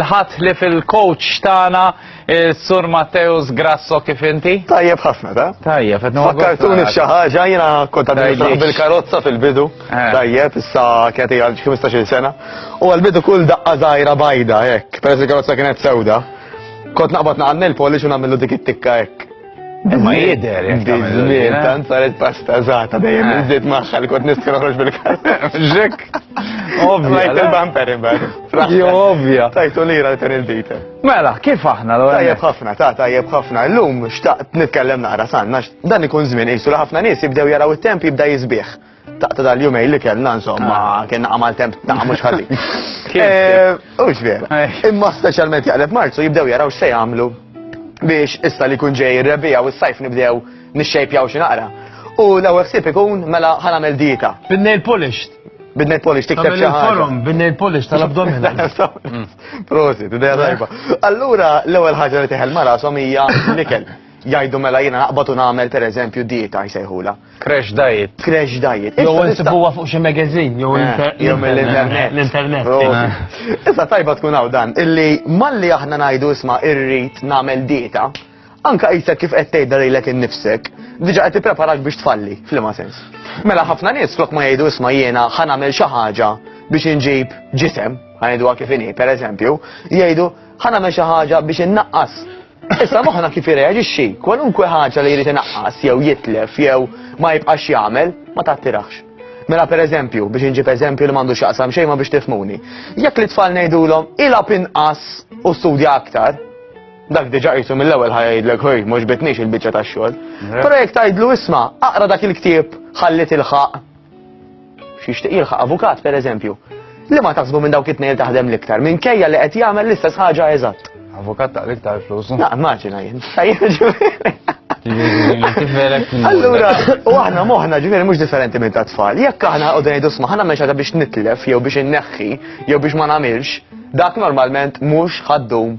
l-ħat li fil-coach tana eh, Sur Matteus Grasso kif inti? Tajjeb ħafna, ta? Tajjeb, għednu Fakkartuni xaħġa, jina konta bil-karozza fil-bidu. Eh. Tajjeb, issa kjati għal 15 sena. U għal-bidu kull daqqa zaħira bajda, jek, peress il-karozza kienet sewda. Kont naqbat naqan il-polish u namillu dik it-tikka, jek. Ma jider, jek Bizmin, tant saret pasta zata, dejjem iżdiet eh. maħħa li kont nistkar uħroġ bil-kalem. Ġek. Ovvja. Lajt il-bumper imbagħad. Jo ovvja. Tajtu lira li kien il-bita. Mela, kif aħna l Tajjeb ħafna, ta' tajjeb ħafna. Llum xtaqt nitkellem naqra sanna, dan ikun żmien qisu ħafna nies jibdew jaraw it-temp jibda jisbieħ. Taqta dal-jumej li kellna insomma, ah. kena għamal temp ta' mux ħazin. Eh, u xver. Eh. Imma specialment jaqleb marzu jibdew jaraw xe jamlu biex issa li kun ġej rebija u s-sajf nibdew nixxejpjaw xi naqra. U l-ewwel ħsieb ikun mela ħanamel dieta. Bin-nail polished. Bin-nail polished tikteb xi ħaġa. Bin-nail polished tal-abdomina. Prosit, idea tajba. Allura l-ewwel ħaġa li teħel mara hija l-ikel. Jgħidu mela jiena naqbad u nagħmel pereżempju dieta jsejħula. Crash diet. Crash diet. Jew insibuha fuq xi magazine jew l-internet. L-internet. Issa tajba tkun hawn dan illi malli aħna ngħidu isma' irrid nagħmel dieta, anka qisek kif qed tgħidha lilek innifsek, diġa qed tippreparak biex tfalli, f'liema sens. Mela ħafna nies flok ma jgħidu isma' jiena ħa nagħmel xi ħaġa biex inġib ġisem, ħajdu kif inhi, pereżempju, jgħidu ħa nagħmel xi ħaġa biex innaqqas Issa moħħna kif irreaġixxi, kwalunkwe ħaġa li jrid inaqqas jew jitlef jew ma jibqax jagħmel ma tattirax. Mela per eżempju, biex inġib eżempju li m'għandu xaqsam xejn ma biex tifmuni. Jekk li tfal ngħidulhom ilab inqas u studja aktar, dak diġa qisu mill-ewwel ħajdlek ħoj mhux bitniex il-biċċa tax-xogħol. Però jekk tgħidlu isma' aqra dak il-ktieb ħallit il-ħaq Xixtieq jilħaq avukat pereżempju. Li ma taħsbu minn dawk it-tnejn taħdem l-iktar, minn kejja li qed jagħmel l-istess ħaġa eżatt. Avukat ta' l-iktar flus. Na, immaġina jien. Allura, u aħna moħna ġifieri mhux differenti minn ta' tfal. Jekk aħna qogħdu ngħidu sma' ħana mhux biex nitlef jew biex inneħħi jew biex ma nagħmilx, dak normalment mhux ħaddum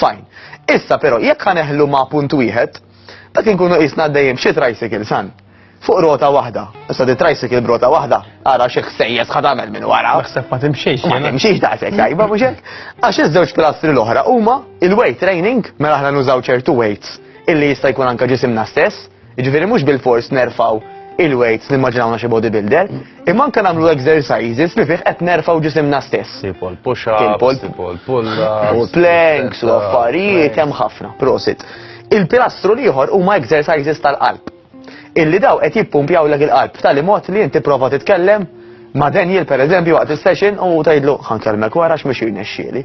Fajn. Issa però jekk ħaneħlu ma' punt wieħed, dak inkunu qisna għaddejjin b'xi tricycle san. Fuq rota waħda. Issa di tricycle b'rota waħda, ara xi ħsejjes ħad tagħmel minn wara. Naħseb ma timxiex. Ma timxiex daqshekk tajba mhux hekk. Għax iż-żewġ pilastri l-oħra huma il-weight training mela aħna nużaw ċertu weights illi jista' jkun anke ġisimna stess Jiġifieri mhux bilfors nerfgħu il-weights nimmaġinawna xi bodybuilder, imma anke nagħmlu exercises li fih qed nerfgħu ġisimna stess. Tipo l-push-ups, tipo l-pull-ups. U planks u affarijiet hemm ħafna, prosit. Il-pilastru l-ieħor huma exercises tal-qalb. Illi daw qed jippumpjaw lek il-qalb b'tali mod li inti prova titkellem ma' Daniel pereżempju waqt is-session u tgħidlu ħankellmek wara x'mhux jirnexxieli.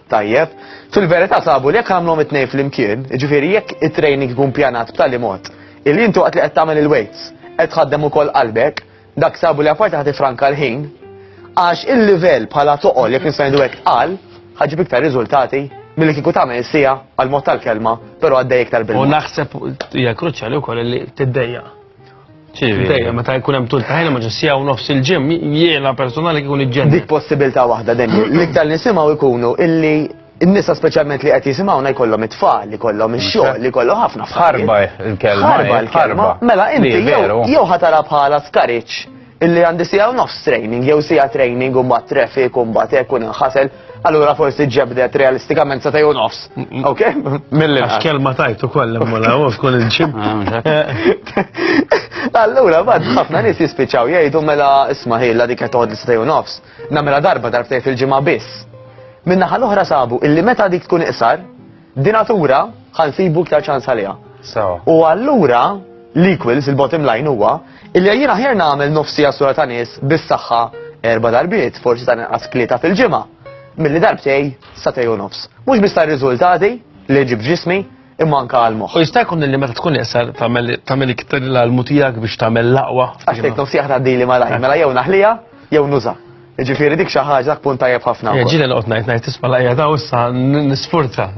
Tajjeb, fil-verità sabu li jekk għamlhom it-tnejn flimkien, jiġifieri jekk it-training ikun pjanat b'tali mod illi inti waqt li qed tagħmel il-weights qed tħaddem ukoll qalbek, dak sabu li apparti ħa tifranka l-ħin, għax il-livell bħala toqol jekk nista' ngħidu hekk tqal, ħa ġġib iktar riżultati milli kieku tagħmel is-siegħa għall-mod tal-kelma, però għaddej iktar bil-mod. U naħseb hija kruċjali wkoll li tiddejjaq. Dejjem meta jkun hemm tul ta' ħin ma ġessija u nofs il-ġim jiena personali kikun iġġen. Dik possibilità waħda dejjem. L-iktar nisimgħu jkunu illi n-nisa speċjalment li qed jisimgħuna jkollhom it-tfal, li kollhom ix-xogħol, li kollhom ħafna f'ħarba l-kelma. Ħarba l-kelma. Mela inti jew ħatara bħala skariċ Illi għandi sija u nofs training, jew sija training u mbagħad traffic u mbagħad hekk u nħasel, allura forsi ġebdet realistikament sa u nofs. Ok? Milli. Għax kelma tajtu koll imma u tkun il-ġib. Ah, allura bad ħafna nies jispiċċaw jgħidu mela isma' ħilla dik qed toħodli sa u nofs. Namela darba darbtej fil-ġimgħa biss. Minnaħa l-oħra sabu illi meta dik tkun iqsar, Dinatura ħa nsibu iktar ċans għaliha. U allura l-equals il-bottom line huwa illi jien aħjar nagħmel nofsi għasura ta' nies bis-saħħa erba' darbiet, forsi ta' inqas klieta fil-ġimgħa, milli darbtej sa tej u nofs. Mhux biss tar-riżultati li ġib ġismi, imma anka għal moħħ. U jista' jkun li meta tkun iqsar tagħmel iktar l-almu tiegħek biex tagħmel l-aqwa. Għax tgħid nofsi aħna dili malaj, mela jew naħlija jew nuża. Ġifiri dik xi ħaġa dak punt tajjeb ħafna. Eh, Ġieli noqgħod ngħid ngħid tisma' lajja daw issa nisfurza.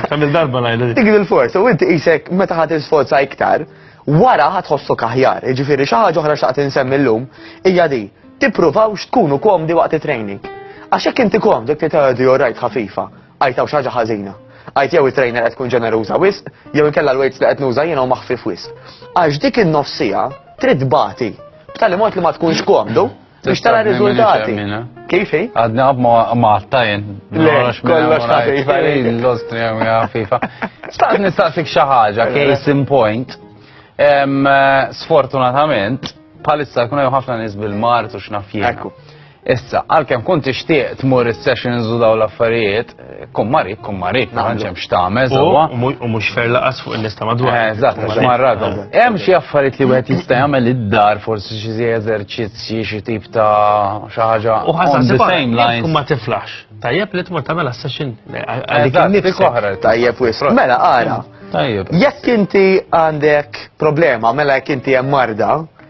Kamil darba ngħid. Dik il-forza u inti qisek meta ħadd isforza iktar, wara ħadd ħossu kaħjar. Ġifiri xi ħaġa oħra xaqt insemmi llum hija di tippruvawx tkunu komdi waqt it-training. Għax hekk inti komdi kti tgħidu rajt ħafifa, għajtaw xi ħaġa ħażina għajt jew it-trainer qed tkun ġeneruża wisq, jew inkella l-weights li qed nuża jiena u maħfif wisq. Għax dik in-nofsija trid bati b'tali mod li ma tkunx komdu Biex tara riżultati. Kif hi? Għadna ma għatta jen. Kollox ħafifa. L-Austria hija ħafifa. Staqt nistaqsik xi ħaġa, case in point. Sfortunatament, bħalissa jkun hemm ħafna nies bil-mart u x'naf Issa, għalkemm kont tixtieq tmur is-sessions u daw l-affarijiet, Kummari, kummari, ma ġem xtamez, u mux fer laqas fuq il-lista madwar. Eh, eżatt, għax marradhom. Hemm xi affarijiet li wieħed jista' jagħmel id-dar, forsi xi zi eżerċizzji, xi tip ta' xi ħaġa. U ħaża the same lines. Ma tiflax. Tajjeb li tmur tagħmel session. Dik oħra tajjeb wis. Mela ara. Tajjeb. Jekk inti għandek problema, mela jekk inti hemm marda,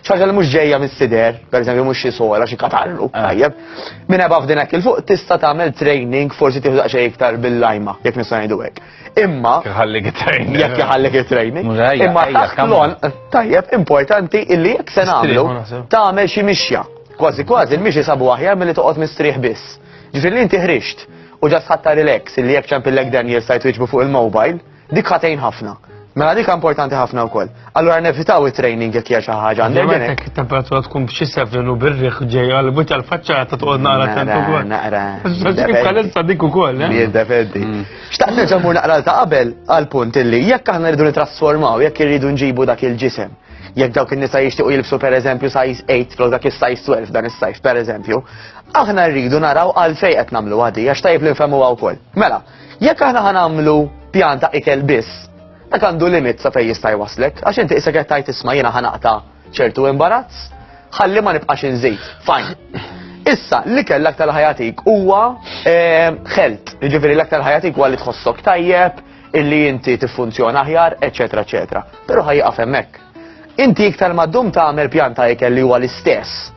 Xi ħaġa li mhux ġejja mis-sider, pereżempju mhux xi sola, xi katarru, ah. tajjeb. Minn ebgħa f'din hekk il-fuq tista' tagħmel training forsi tieħu daqsxejn iktar bil-lajma, jekk nista' ngħidu hekk. Imma jħallik it-training. Jekk jħallik it-training. Imma taħt l-on tajjeb importanti illi jekk se nagħmlu tagħmel xi mixja. Kważi kważi il-mixi sabu aħjar milli toqgħod mistrieħ biss. Ġifieri inti ħrixt u ġas ħatta relax illi jekk ċempillek dan jista' jtwiġbu fuq il-mobile Dik ħatejn ħafna. Mela dik importanti ħafna wkoll. Allura nevitaw it-training jekk hija xi ħaġa għandek. Meta it-temperatura tkun b'xi sevrin u birriħ ġej għal buċa l-faċċa ta' toqgħod naqra tant ukoll. Naqra. Kif kalessa dik ukoll, eh? Jiddependi. Mm. Xtaqt nerġa' mur naqra ta' qabel għal punt illi jekk aħna rridu nitrasformaw, jekk irridu nġibu dak il-ġisem jekk dawk in-nisa jixtiequ jilbsu pereżempju size 8 flok dak is-size 12 dan is-sajf pereżempju, aħna rridu naraw għalfejn qed nagħmlu għadi għax tajb li nfehmuha wkoll. Mela, Jekk aħna ħanamlu pjan ta' ikel biss, dak għandu limit sa fejn jista' jwaslek, għax inti isek qed tajt isma' jiena ħanaqta' ċertu imbarazz, ħalli ma nibqax inżid. Fajn. Issa, li kell aktar ħajatik huwa ħelt, eh, ġifiri l-aktar ħajatik huwa li tħossok tajjeb, illi inti tiffunzjona aħjar, eċetera, eċetera. Però ħajqaf hemmhekk. Inti iktar ma ddum tagħmel pjanta ikel li huwa l-istess.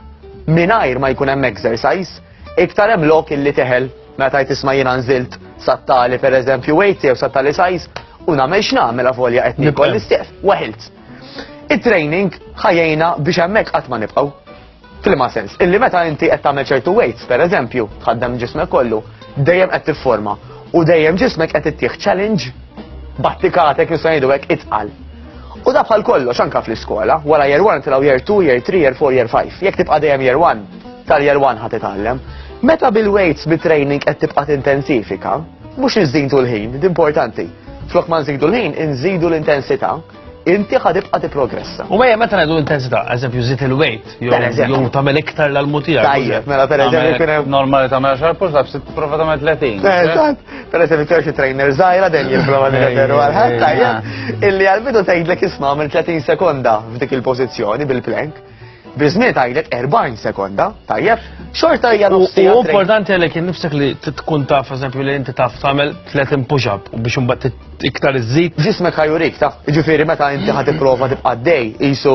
Mingħajr ma jkun hemm exercise, Iktar hemm lok illi teħel meta tajt isma' jiena nżilt sattali pereżempju wejti jew sattali sajz u nagħmel x'nagħmel avolja qed nikol l-istieq waħilt. It-training ħajjejna biex hemmhekk qatt ma nibqgħu. F'liema sens, illi meta inti qed tagħmel ċertu weights pereżempju, tħaddem ġismek kollu, dejjem qed tifforma u dejjem ġismek qed ittieħ challenge battikatek nista' ngħidu hekk itqal. U da bħal kollox anka fl-iskola, wara year 1 tilaw year 2, year 3, year 4, year 5. Jekk tibqa' dejjem year 1, tal-year 1 ħad titgħallem. Meta bil-weights bit-training qed tibqa' tintensifika, mhux inżidu l-ħin, importanti. Flok ma nżidu l-ħin, inżidu l-intensità, inti ħad tibqa' tipprogressa. U mejja meta ngħidu l-intensità, eżempju żid il-weight, Jew tagħmel iktar l-almu tiegħek. Tajjeb, mela pereżempju kien hemm. Normali tagħmel 10 pull ups, tipprova tagħmel 30. Eh, eżatt. Pereżempju kien xi trainer żgħira dejjem jipprova nirreferu għal ħadd tajjeb illi għall-bidu tgħidlek isma' għamel 30 sekonda f'dik il-pożizzjoni bil-plank. Biżmiet għajlet 40 sekonda, tajjeb, xorta hija nofsija. U importanti għalek nifsek li tkun taf, eżempju, li inti taf tagħmel 30 push-up u biex imbagħad iktar iżid. Ġismek ħajurik, taf, ġifieri meta inti ħad tipprova tibqa' dej, isu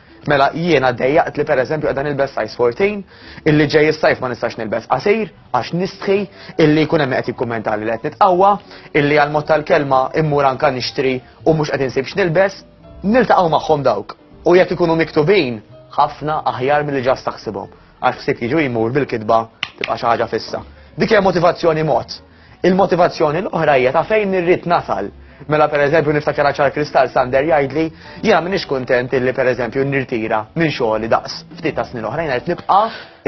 Mela jiena dejjaqt li pereżempju qiegħda nilbes size 14, illi ġej is-sajf ma nistax nilbes qasir għax nistħi, illi jkun hemm qed jikkummentali li qed nitqawwa, illi għal mod tal-kelma immur anka nixtri u mhux qed insib x'nilbes, niltaqgħu magħhom dawk u jekk ikunu miktubin ħafna aħjar milli ġast taħsibhom. Għal ħsieb jiġu jmur bil-kitba tibqa' xi ħaġa fissa. Dik hija motivazzjoni mod. Il-motivazzjoni l-oħra hija ta' fejn nirrid nasal. Mela per eżempju niftakar ċar kristall Sander jgħidli, jiena m'iniex kuntent illi per eżempju nirtira minn xogħli daqs ftit ta' snin oħrajn qed nibqa'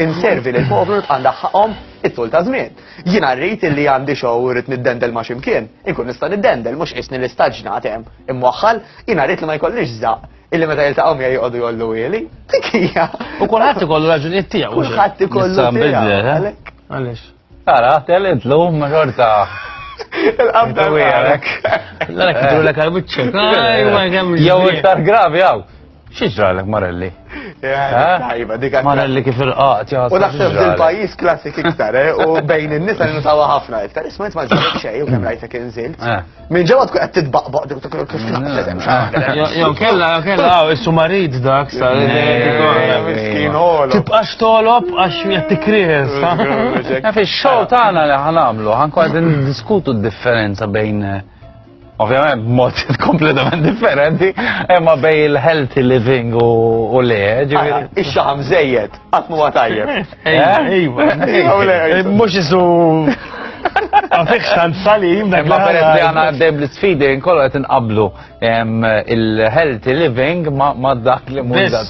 inservi lil povru nibqa' ndaħħaqhom it-tul ta' żmien. Jiena rrid illi għandi xogħol u rrid niddendel ma' ximkien, inkun nista' niddendel mhux qisni l-istaġnat hemm imwaħħal, jiena rrid li ma jkollix żaq illi meta jiltaqgħu miegħi joqogħdu jollu wieli. Dik hija. U kulħadd ikollu raġunijiet tiegħu. Kulħadd ikollu. Sam bidlet, eh? Għaliex. Tara, telid lum ma xorta. Il-qabda għalek. L-għalek eh. id-dulek għal-bicċek. Jow iktar gravi għaw. Xieġralek, Marelli? Tajba, dika. Marelli kif il-qat, ja. U naħseb dil-pajis klassik iktar, eh? U bejn il-nisa li nutawa ħafna iktar. Isma jtma ġarek xej, u kem rajtek inżilt. Minn ġewwa tkun qed titbaqbaq dik tkun kif tnaqqset hemm xi waħda. Jew kellha jew kellha hawn issu marid dak sa miskin ħolo. Tibqax tolob għax qed tikries. Fix-xogħol tagħna li ħanamlu ħankun qed niddiskutu d-differenza bejn ovvjament b'mod kompletament differenti, imma bej il-healthy living u le, ġifieri. Ix-xaħam żejjed. Qatt m'huwa tajjeb. Ejwa, ejwa. Mhux isu Għafik xtant salim, dak ma peress li għana għaddej bl-sfidi, nkollu għet nqablu il-healthy living ma dak li munda.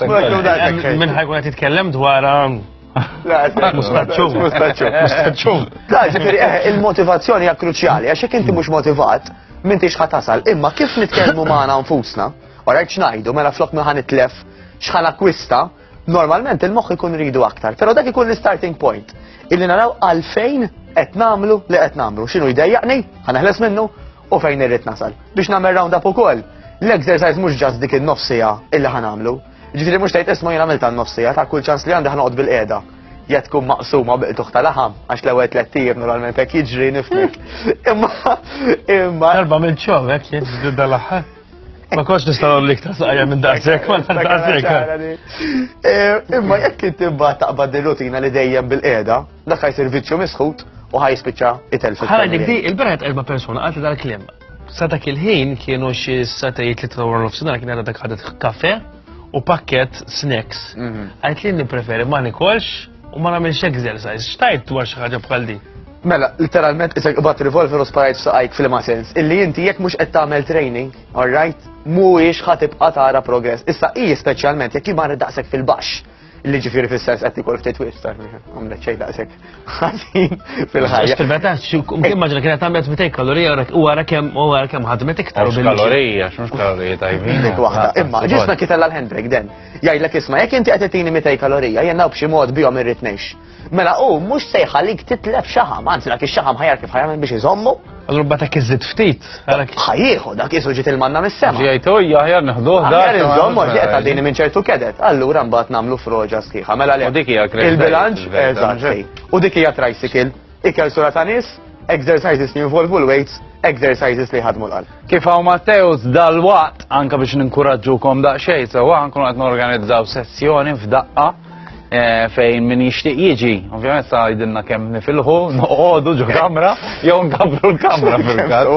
Minn ħajkun għet jitkellem dwar um, Mustaċċu. Mustaċċu. Mustaċċu. Da, ġifiri, eh, il-motivazzjoni hija kruċjali, għax jekk inti mhux motivat, minn tix ħatasal. Imma kif nitkellmu magħna nfusna, u rajt xnajdu, mela flok minn ħan itlef, xħan akwista, Normalment il-moħħ ikun ridu aktar, però dak ikun l-starting point. Illi naraw għalfejn qed nagħmlu li qed nagħmlu. X'inhu jdejjaqni, ħaneħles minnu u fejn irrid nasal. Biex nagħmel round up ukoll, l-exercise mhux ġast dik in-nofsija illi ħanamlu. Ġifieri mhux tgħid isma' jien għamilta n-nofsija ta' kull ċans li għandi ħanoqgħod bil-qiegħda ja tkun maqsuma biqtuħ ta' laħam, għax l-ewel tlettijiem normalment hekk jiġri nifnek. Imma, imma. Darba minn ċom, hekk jiġri dal-aħħar. Ma kontx nista' nagħmel iktar saqajja minn daqshekk, ma daqshekk. Imma jekk inti mbagħad taqbad ir-rutina li dejjem bil-qiegħda, dak ħajsir vizzju misħut u ħajspiċċa itel fil Ħala dik di, il-berat erba' persuna qalti dal-kliem. Sa dak il-ħin kienu xi satejt li trawar nofsinhar kien għadha dak ħadet kafe u pakket snacks. Għajt mhm. li nippreferi ma nikolx U ma nagħmilx exercise, xtajt dwar xi ħaġa bħal din? Mela, literalment isek ibat revolver u sparajt f'saqajk fil-ma sens. Illi inti jekk mhux qed tagħmel training, alright, mhuwiex ħa tibqa' tara progress. Issa hi speċjalment jekk jimar daqshekk fil-baxx. Illi ġifieri fis-sens qed ikol ftit wis tar għamlet xejn daqshekk ħażin fil-ħajja. Fil-meta immaġina kienet għamlet 200 kalorija u wara kemm u wara kemm ħadmet iktar. Kalorija, x'mhux kalorija tajbin. Dik waħda, imma ġisma kitella l-handbrake den. Jgħidlek isma' jekk inti qed titini 200 kalorija jien hawn b'xi mod bihom irrid ngħix. Mela hu mhux se jħallik titlef xaħam, anzi dak ix-xaħam ħajar kif ħajamel biex iżommu. Allura bata kiżid ftit. Ħajjieħu dak isu ġiet il-manna mis-sema. Ġejtu hija ħajar neħduh dak. Ħajar iżommu ġiet għaddini minn ċertu kedet. Allura mbagħad nagħmlu froġa sħiħa. Mela le. U dik hija Il-bilanċ eżatt. U dik hija tricycle. Ikel sura ta' nies, exercises li jinvolvu l-weights, exercises li jħadmu l-qalb. Kif hawn Matteus dal-waqt anke biex ninkuraġġukom daqsxejn sewwa nkunu qed norganizzaw sessjoni f'daqqa eh, fejn min jixtieq jiġi, ovvjament sa jidilna kemm nifilħu, noqogħdu ġo kamra jew nkabbru l-kamra fil-każ.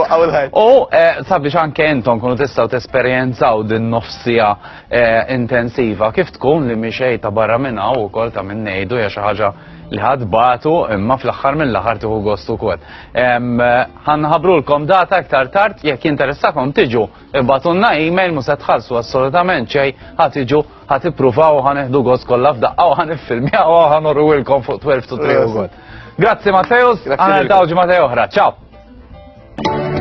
U eh, sabiex anke intom kunu tistgħu tesperjenzaw din nofsija eh, intensiva kif tkun li mixej ta' barra minn hawn ukoll ta' minn ngħidu hija xi ħaġa li ħadd batu imma fl-aħħar mill-aħħar tieħu gost ukoll. Ħanħabrulkom data iktar tard jekk jinteressakom tiġu ibatunna email mhux se tħallsu assolutament xejn ħadd iġu ħadd ippruvaw ħaneħdu gost kollha f'daqqa u ħaniffilmjaw u ħanorwilkom fuq 12 to 3 ukoll. Grazzi Matteus, għana l-tawġi Matteo oħra, ciao!